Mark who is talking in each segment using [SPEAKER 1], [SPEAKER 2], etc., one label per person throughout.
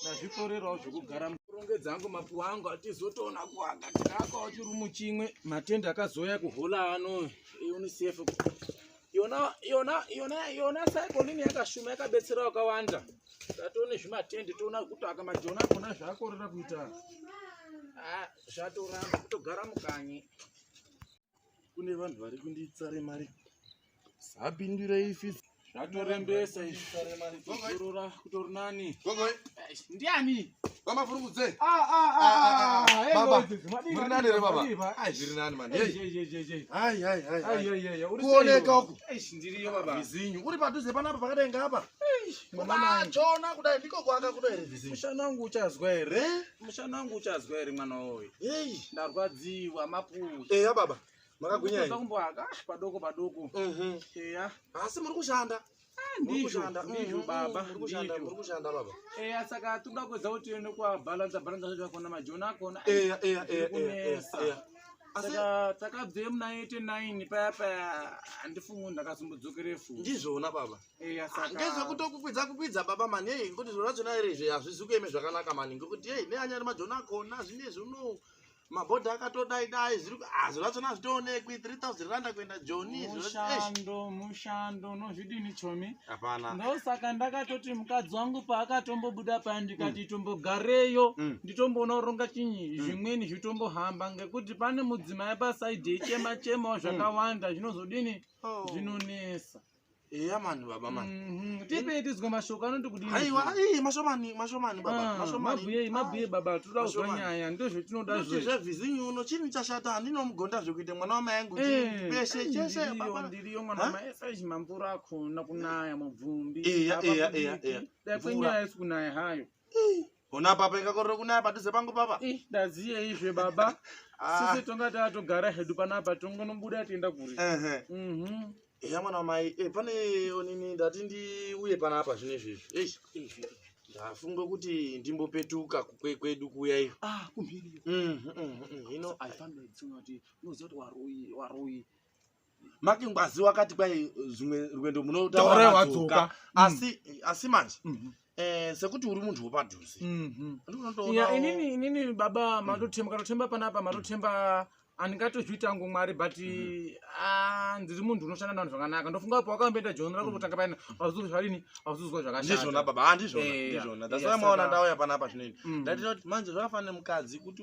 [SPEAKER 1] ndazvikorerawo zvekugara murongedza angu mapuwa angu atizotoona kuaka takaakawo chirumu chimwe matendi akazoya kuhola ano eunicef yona yona yona yona saikolini yakashuma yakabetsera wakawanda tatone zvimatendi toona kuti akamajona akona zvakorera kuita ah, zvatoramba kutogara mukanyi kune vanhu vari kunditsare mari sapindurei fif zvatorembesa izvizorora kutori nani ndiani vamafurungudze
[SPEAKER 2] kuoneka uku vizinyu
[SPEAKER 1] uri padhuze panapa
[SPEAKER 2] pakadai ngapa mwana achona kudai ndiko kuaka kudoere vizinyu mushana wangu uchazwa
[SPEAKER 1] here mushana wangu uchazwa here mwana woye hey. ndarwadziwa mapuzi eya hey, baba
[SPEAKER 2] makagwinyakumboaka padoko
[SPEAKER 1] padoko eya mm -hmm. hey, yeah. asi muri kushanda
[SPEAKER 2] ndizvo
[SPEAKER 1] ndizvo baba ndizvokushanda
[SPEAKER 2] baba eya saka toda
[SPEAKER 1] kuedza kuti tiende kwabalanza balanza zvacho akona majoni akona eya eya eya eya
[SPEAKER 2] eya
[SPEAKER 1] saka takabve muna 89 paya paya handifungu ndakazombodzokere fu ndizvona baba ndezvekutokukwidza kukwidza
[SPEAKER 2] baba mani hei ngekuti zviro zvachona iri izvi hazvizi kueme zvakanaka mani ngekuti hei neanyari majoni akona zvine zvino mabhodha akatodai dai zviri ah, zviro zvachona hazvitoonekwi 3000 randa kuenda joni mushando
[SPEAKER 1] mushando unozvidini chomi hapana ndosaka
[SPEAKER 2] ndakatoti
[SPEAKER 1] mukadzi wangu paakatombobuda paya ndikati mm. tombogareyo mm. nditomboona kuronga chinyi mm. zvimweni zvitombohamba ngekuti pane mudzimai pasaidhi echema chemawo zvakawanda zvinozodini oh. zvinonesa eya
[SPEAKER 2] mani baba mani Mhm, tipei tizwe mashoko
[SPEAKER 1] anoti kudini aiwa ii mashomani
[SPEAKER 2] mashomani baba Ah, mashomani mabhuye mabhuye
[SPEAKER 1] baba tinoda kuzwa Mashomani. nyaya ndozvetinoda Noti zve zvevhizinyi uno
[SPEAKER 2] chini chashata handinomugonda zvekuita mwana wamai angu chii, peshe chese baba ndiriyo mwana Ha?
[SPEAKER 1] maesai mamvura akona kunaya mubvumbi Eya, Apa eya, eya,
[SPEAKER 2] kudiki. eya. dai Mvura. kwenyaya
[SPEAKER 1] isi kunaya hayo Ii, Ona papa
[SPEAKER 2] ingakorera kunaya padhuze pangu papa. Ih, ndaziye izve
[SPEAKER 1] baba. Ah. Sisi tonga tatogara hedu panapa tongonobuda tienda kuri. Ehe. Mhm.
[SPEAKER 2] Eya mwana wamai, eh pane onini ndati ndiuye panapa zvine izvi. Eish. Izvi. Ndafunga kuti ndimbopetuka kukwe- kwedu kuya iyo. Ah, kumhiri. Mhm,
[SPEAKER 1] mhm, mhm. Hino I found out kuti unoziva kuti waroyi, waroyi. make
[SPEAKER 2] ngwazi wakati kwai zvimwe rwendo munotauraadzoka mm. asi asi manje mm -hmm. Eh, sekuti uri munhu wepadhuze mhm. inini inini
[SPEAKER 1] baba matotemba katotemba panapa matotemba handingatozviita ngo mwari but mhm. ah, ndiri munhu unoshanda navanhu zvakanaka ndofunga pa wakamboenda joni rako mhm. kutanga paina auzuzwa zvadini auzuzwa zvakashazvona baba handizvonazvona
[SPEAKER 2] eh, ndasara maona ndauya panapa zvinoini mm. ndatinoti manje zvakafanira mukadzi kuti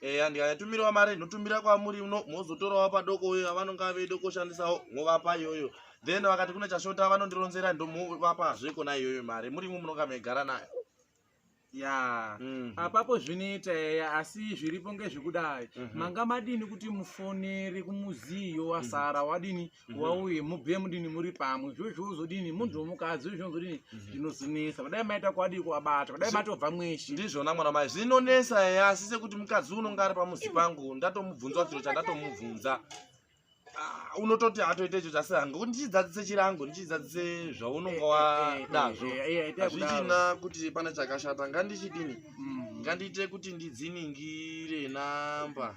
[SPEAKER 2] eya ndikayatumirawo mari ndinotumira kwamuri uno mozotorawo padoko uyo avanonga veide kushandisawo movapa iyoyo then vakati kune chashota vanondironzera ndomovapa zve kona iyoyo mari muri imwe munonga maigara nayo ya mm.
[SPEAKER 1] apapo zvinoita eya asi zviripo ngezvekudai mm -hmm. manga madini kuti mufoneri kumuziyo wasara mm -hmm. wadini mhm. wauye mubve mudini muri pamwe zvo zvozodini munhu womukadzi zvozodini mhm. zvinozonesa vadai maita kwadii kuwabata vadai matobva mweshi ndizvona mwana mai
[SPEAKER 2] zvinonesa eya asi sekuti mukadzi unonga ari pamuzi pangu ndatomubvunzwa chiro chandatomubvunza Ah, unototi atoita icho chasira ngokuti ndichidzadzise chirango ndichidzadzise zvaunonga eh, eh, eh, wanazvo hazvichina kuti pane chakashata ngandichidini mm. ngandiite kuti ndidziningire namba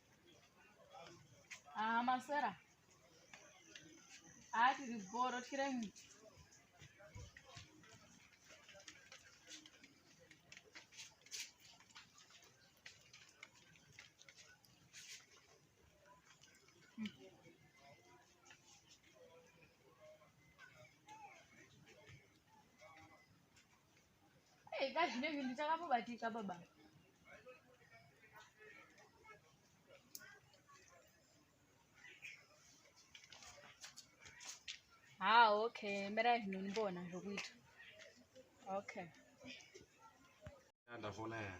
[SPEAKER 3] Ah, maswera. Ah, tiri boro tiri mu. Hey, ka zvine zvinhu ndichakamubatika baba. Ah, okay. Mbera zvino ndibona zvokuita. Okay.
[SPEAKER 2] Ndafona ya.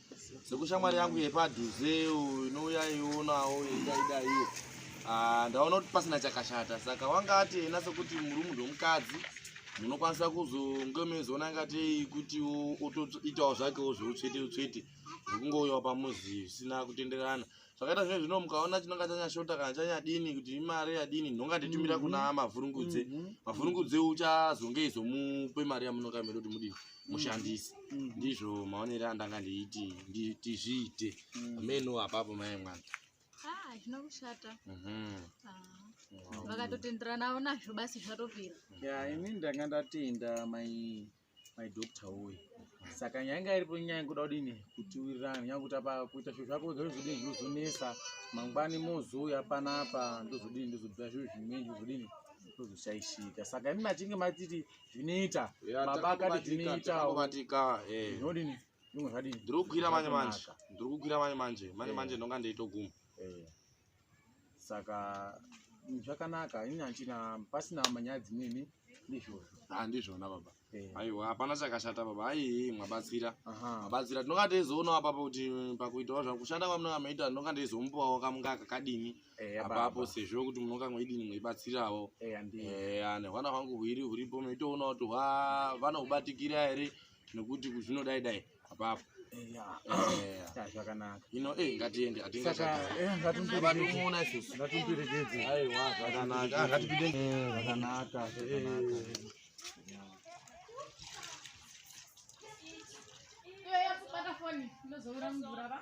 [SPEAKER 2] sekushamwari yangu yepadhuzeu inouya ionawo yedaidaiyo ah, ndaona kuti pasina chakashata saka wanga ati ena sekuti muri munhu wemukadzi munokwanisa kuzonge meizoona ingatei kuti otoitawo zvakewo zveutsvete utsvete zvekungouyawo pamuzi zvisina kutenderana zvakaita zvinhu zvino mukaona chinonga chanyashota kana chanyadini kuti imari yadini ndonga nditumira mm -hmm. kuna mavhurungudze mm -hmm. mavhurungudze uchazonge izomupe mari yamunonga miri kuti mudii mm. mushandisi mm -hmm. ndizvo maonere andanga ndiiti ndizviite mm -hmm. ameno apapo mai mwana ah, hazvina
[SPEAKER 3] kushata mhm. ah. vakatotenderanavo nazvo basi zvatopera ya ini ndanga
[SPEAKER 1] ndatenda mai my doctor woye saka nyaya inga iripo nyaya yekuda kudini kutiwirirana nyaya kuti apa kuita zviro zvako wega zvozodini zvinozonesa mangwani mozouya panapa ndozodini ndozobvira zviro zvimweni zvozodini tozoshaishika saka imi machinge matiti zvinoita baba akati zvinoitaobatika eh. zvinodini zvimwe zvadini ndiri kukwira manje manje
[SPEAKER 2] ndiri kukwira manje manje manje manje eh. ndonga ndeitoguma eh. saka
[SPEAKER 1] mm, zvakanaka ini handina pasina manyaya dzimweni ndizvozvo Ah, ndizvona baba
[SPEAKER 2] Eh, aiwa hapana chakashata baba aii mwabatsira aha. mabatsira tinonga teizoonawo apapo kuti pakuitawo zvakushanda kwamunonga maita ndinonga ndeizomupawo kamunga kakadini Eh, apa apapo apa. sezvo kuti munonga mweidini mweibatsirawo Eh, handi- Eh, ane hwana hwangu hwiri huripo meitoona kuti hwa vanohubatikira here nekuti zvinodaidai apapo zvakanaka
[SPEAKER 1] ino e ngatiende hatingazoiaaaaaaaaa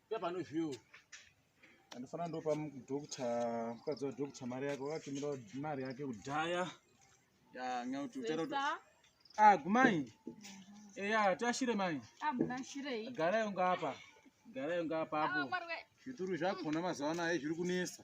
[SPEAKER 1] Pepanozviwo. Andifana ndopa mudokta mukadzi wadokta mari yake wakatumira mari yake kudhaya. Ya nyau tutero. Ah gumai. Eya eh, tashire mai. Ah mukashirei. Gara yonga apa. Gara yonga apa hapo. Ah, Zvituru zvakona mazuva ano zviri kunesa.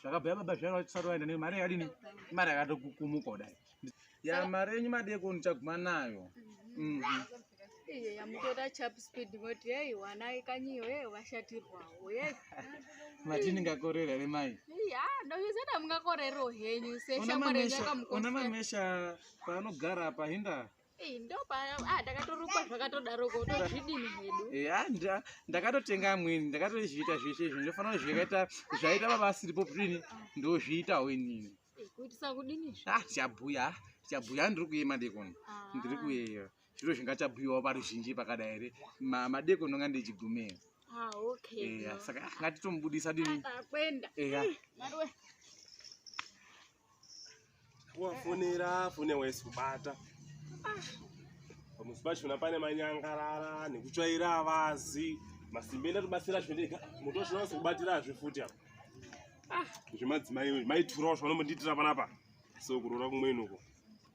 [SPEAKER 1] zvakabhuya baba zvairo vachisati vaenda nei mari yakadini imari yakatokukumuka kudai ya mari yenyu madeko ndichaguma nayo mm -hmm. Iyo
[SPEAKER 3] yamutora chap speed moti hey wana ikanyiyo hey washatirwawo ye
[SPEAKER 1] mati ndingakorera here mai ya ndozvizeta
[SPEAKER 3] mungakorerero henyu seshamwari yakamukoona
[SPEAKER 1] mamesha paanogara apa hinda
[SPEAKER 3] Ah, ndakatotenga
[SPEAKER 1] amweni ndakatozviita zvese izvi ndofanira kuti zvakaita zvaita baba asiripo prini
[SPEAKER 3] ndozviitawo
[SPEAKER 1] inini chabhuya chabhuya ndiri kuye madekoni ah. ndiri kuyeyo zviro zvingachabhuyiwawo paruzhinji pakadai here madekoni onga ndichigumei ah,
[SPEAKER 3] saka
[SPEAKER 1] ngatitomubudisa dini
[SPEAKER 4] wafonera fone waisi kubata pamusi pachona pane manyangarara nekutsvaira avazi masimba enda tobatsira zvendeka moto wacho unasi kubatirazve futi apa zvemadzimai maiturawo zvavanombotiitira panapa so kurora kumweni uko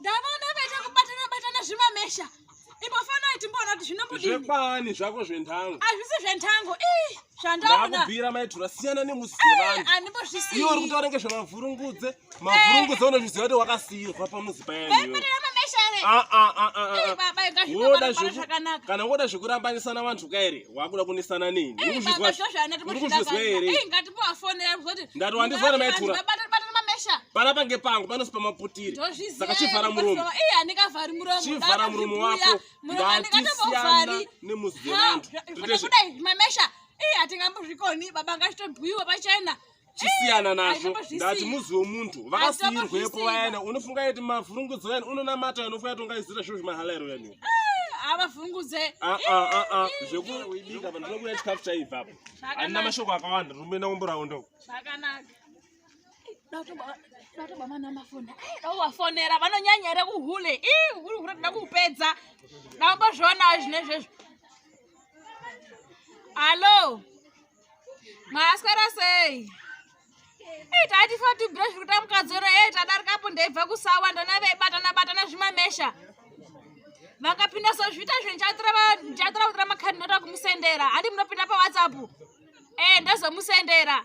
[SPEAKER 5] ndavaona vaita kubatana batana zvimamesha ipo fanai timboona kuti zvinobudii zvekwani zvako
[SPEAKER 4] zventango hazvisi zventango
[SPEAKER 5] ii zvandakubvira maitura
[SPEAKER 4] siyana nemusi dzevanhu handimbozvisiiyo uri kutaura
[SPEAKER 5] nge
[SPEAKER 4] zvemavhurungudze mavhurungudze unozviziva kuti wakasiirwa pamuzi payanio Ah, ah,
[SPEAKER 5] ah, woda
[SPEAKER 4] kana woda zvekurambanisana vanhu ka here wakuda kunesana nini
[SPEAKER 5] ndati wandizwana maitura pana pange pangu panosi
[SPEAKER 4] pamaputiri saka chivhara muromo
[SPEAKER 5] chivhara muromo wako
[SPEAKER 4] ndatisiyana nemuzivevantu
[SPEAKER 5] hatingambozvikoni baba ngachitobhuyiwa pachena chisiyana
[SPEAKER 4] nazvo ndati muzi wemuntu vakasiirwepo vayana unofunga kuti mavhurungudzo yani unonamata yani unofunga kuti ungaizira zviro zvemahalairo yani ah, avavhurungudze
[SPEAKER 5] ah, ah,
[SPEAKER 4] zvekuibika vanhu vanokuya chikafu chaivapo handina mashoko akawanda ndinomboenda kumborawo ndoko
[SPEAKER 5] zvakanaka datobamanamafonera vanonyanya here kuhule hure toda kuupedza daambozvionawo zvinezvezvo hallo Maswera sei? Hey, tati for to brush kuti amukadzora hey tadarika apo ndaibva kusawa ndona vaibatana batana zvimamesha. Vakapinda so zvita zvinhu chatura chatura kutura makhadi nota kumusendera. Handi munopinda pa WhatsApp. Eh ndazomusendera.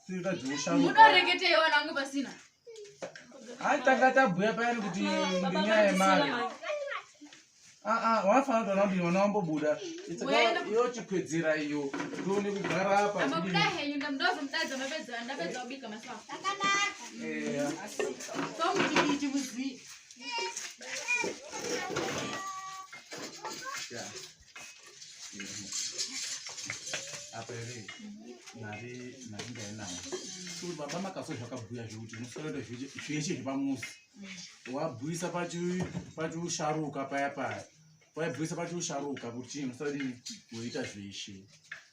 [SPEAKER 6] munoreketei vana vangu
[SPEAKER 5] pasina
[SPEAKER 6] atanga tabhuya payani kuti ndinyaya yemari aa wafana tona kuti vana vambobuda iyo chikwedzera iyo tione kugara apa
[SPEAKER 5] Yeah.
[SPEAKER 6] apa ere mari mari ndainayo so baba makaso zvakabhuya zvekuti unofanira kuita zveshe zvepamuzi wabhuisa pachiusharuka paya paya waibhuisa pachiusharuka kuti chii musadii woita zveshe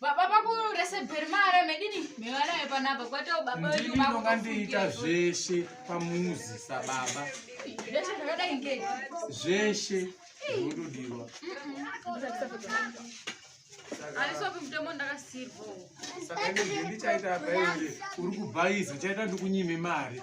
[SPEAKER 6] baba vakuresebheri
[SPEAKER 5] mara medini mevanayo panapa kwatao baba veduonga ndiita
[SPEAKER 6] zveshe pamuzi sababa zveshe
[SPEAKER 5] zvakadai ngei zveshe
[SPEAKER 6] zvinotodiwa
[SPEAKER 5] aisopi mutemo ndakasirwa saka
[SPEAKER 6] ndichaita baiure
[SPEAKER 5] uri
[SPEAKER 6] kubhaiza chaita ndikunyime
[SPEAKER 5] mari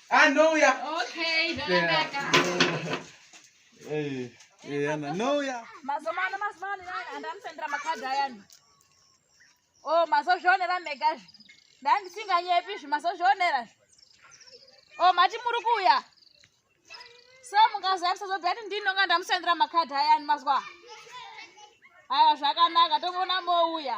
[SPEAKER 5] anouya
[SPEAKER 6] anouya mazomano mazomano
[SPEAKER 5] andamusendera makadhi ayani o oh, mazozvionera megazvi ndandisinganyepi zvi mazozvionera zvi o oh, mati muri kuuya so mungaziva musazobati ndinonga ndamusendera makadhi ayani mazwa aya zvakanaka tokuona mouya